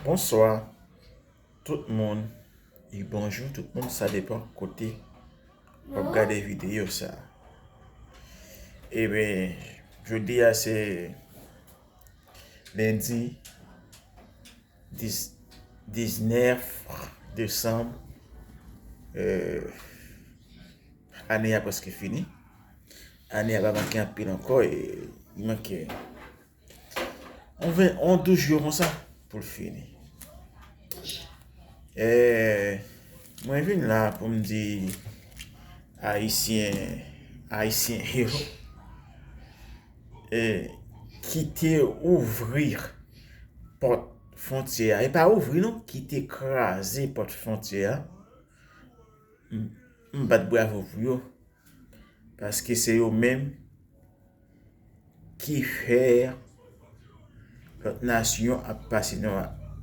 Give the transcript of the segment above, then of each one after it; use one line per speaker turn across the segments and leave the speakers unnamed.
Bonswa tout moun e bonjou tout moun sa depan kote wap gade videyo sa e ben jodi a se lendi 19 desanm ane a preske fini ane a pa manke anpil ankò e manke On 20, on 12 jou konsa pou l fini. E, mwen vin la pou m di Ayisyen, Ayisyen yo, e, kite ouvri pòt fontyè a. E pa ouvri non, kite kraze pòt fontyè a. M bat bravo pou yo, paske se yo menm. ki fè lòt nasyon ap pase nou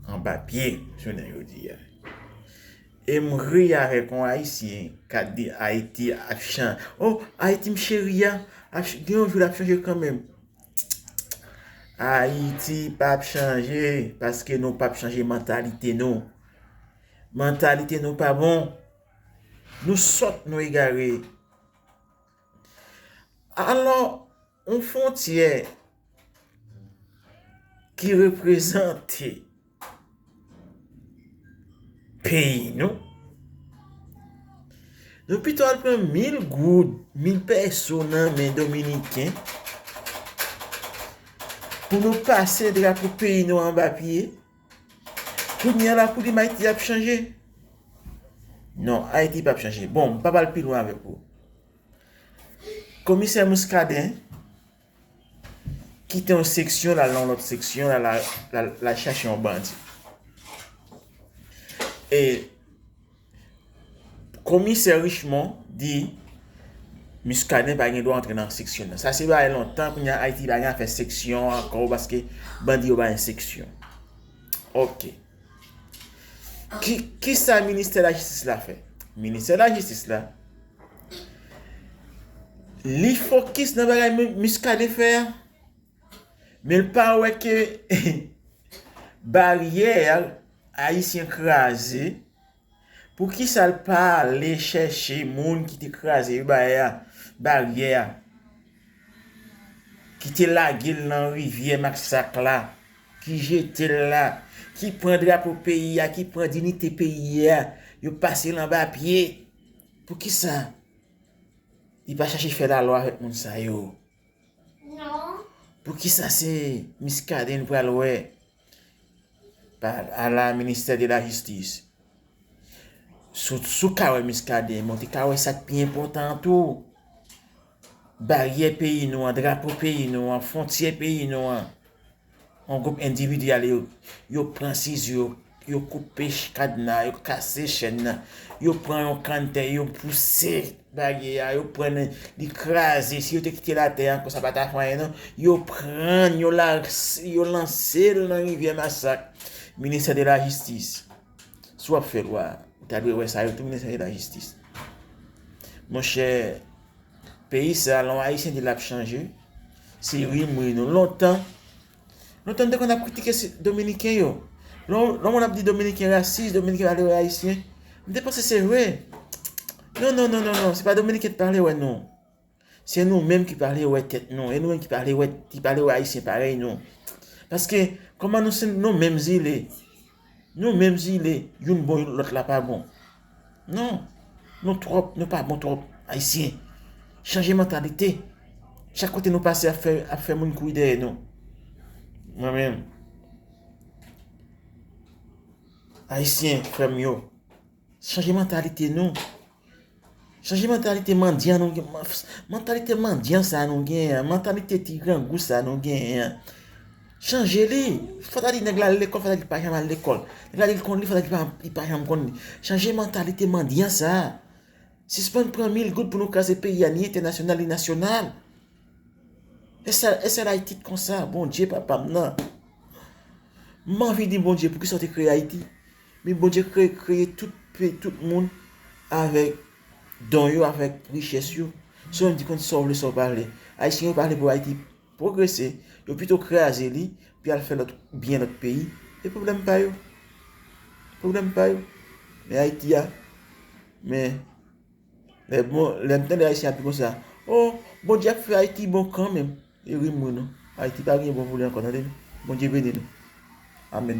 anba pye jounen jodi a. E m ri avèk yon Ayisyen k ap di Ayiti ap chan, o Ayiti m cheri a, gen yon jou l ap chanje kanmenm. Ayiti pa p chanje paske nou pa p chanje mantalite nou. Mantalite nou pa bon. Nou sòt, nou egare. Alò, yon fwontyè ki reprezante peyi nou, nou pito al pran mil goud, mil pèso nan men dominiken, pou nou pase drapo peyi nou anba pye. Kounya la koudem Ayiti ap chanje? Non, Ayiti pap chanje. Bon, m pap al pi lwen avèk ou. Komisè Muscadin kite yon seksyon lal nan yon lòt seksyon lal chache yon bandi. E Komisè Richemond di Muscadin pa gen dwa antre nan seksyon nan. Sa se bagay lontan kounye a Ayiti pa gen afè seksyon ankò paske bandi yo pa gen seksyon. Ok. Ki sa ministè lajistis la fè? Ministè lajistis la li fokis nan bagay Muscadin fè a? Men l pa wè ke baryè ayisyen kraze, pou ki sa l pa ale chèche moun ki te kraze baryè a, ki te lage l nan rivyè masak la, ki jete l la, ki pran drapo peyi a, ki pran dinite peyi a, yo pase l anba pye, pou ki sa li pa chèche fè lalwa avèk moun sa yo? Poukisa se Muscadin nou pral wè a la ministè de la jistis? Sou ka wè Muscadin, mwen te ka wè sa k pi enpòtan an tou. Baryè peyi nou an, drapo peyi nou an, fwontyè peyi nou an. Yon gwoup endividi ale yo pran sizo yo koupe kadna yo kase chèn nan yo pran yon kann tè yo pouse baryè a yo pran li kraze si yo te kitel atè ankò sa pata fè anyen non yo prann yo lansel nan rivyè masak ministè de la jistis si wap fè lwa ou ta dwe wè sa yo tou ministè de la jistis monchè Peyi sa lè yon ayisyen di lap chanje se rim wi nou lontan lontan nou te konn ap kritike dominiken yo lè yon moun ap di dominiken rasis dominiken pale wè ayisyen m te panse se vre non non non non se pa dominiken ki pale wè nou se nou menm ki pale wè tèt nou e nou menm ki pale wè ayisyen parèy nou paske kòman nou se nou menm zile Nou menm zile youn bon youn lòt la pa bon non nou tròp nou pa bon tròp ayisyen chanje mantalite chak kote nou pase ap fè ap fè moun kouri dèyè nou mwen menm ayisyen frèm yo. Chanje mantalite nou. Chanje mantalite mandyan nou. Mantalite mandyan sa nou gen an. Mantalite ti grangou sa nou gen an. Chanje li. Fwa ta di nèg la al lekòl, fwa ta di li pa janm al lekòl. Nèg la di li konn li, fwa ta di li pa janm konn li. Chanje mantalite mandyan sa. Sispann pran mil goud pou nou kraze peyi a ni entènasyonal ni nasyonal. Esèl Ayiti t konsa, Bondye papa m nan. M anvi di Bondye poukisa w te kreye Ayiti. Min Bondye kreye kreye tout pe tout moun avèk don yo avèk richès yo sèw menm di konn sòw vle sòw pale ayisyen yo pale pou ayiti pwogrese yo pito kraze li pi al fè lòt byen lòt peyi e pwoblèm pa yo pwoblèm pa yo men ayiti a men lè bon lèm tande ayisyen ap di konsa oo Bondye ap fè ayiti bon kanmenm e rim wi non ayiti pa gen bon vre ankò tande Bondye beni nou amèn.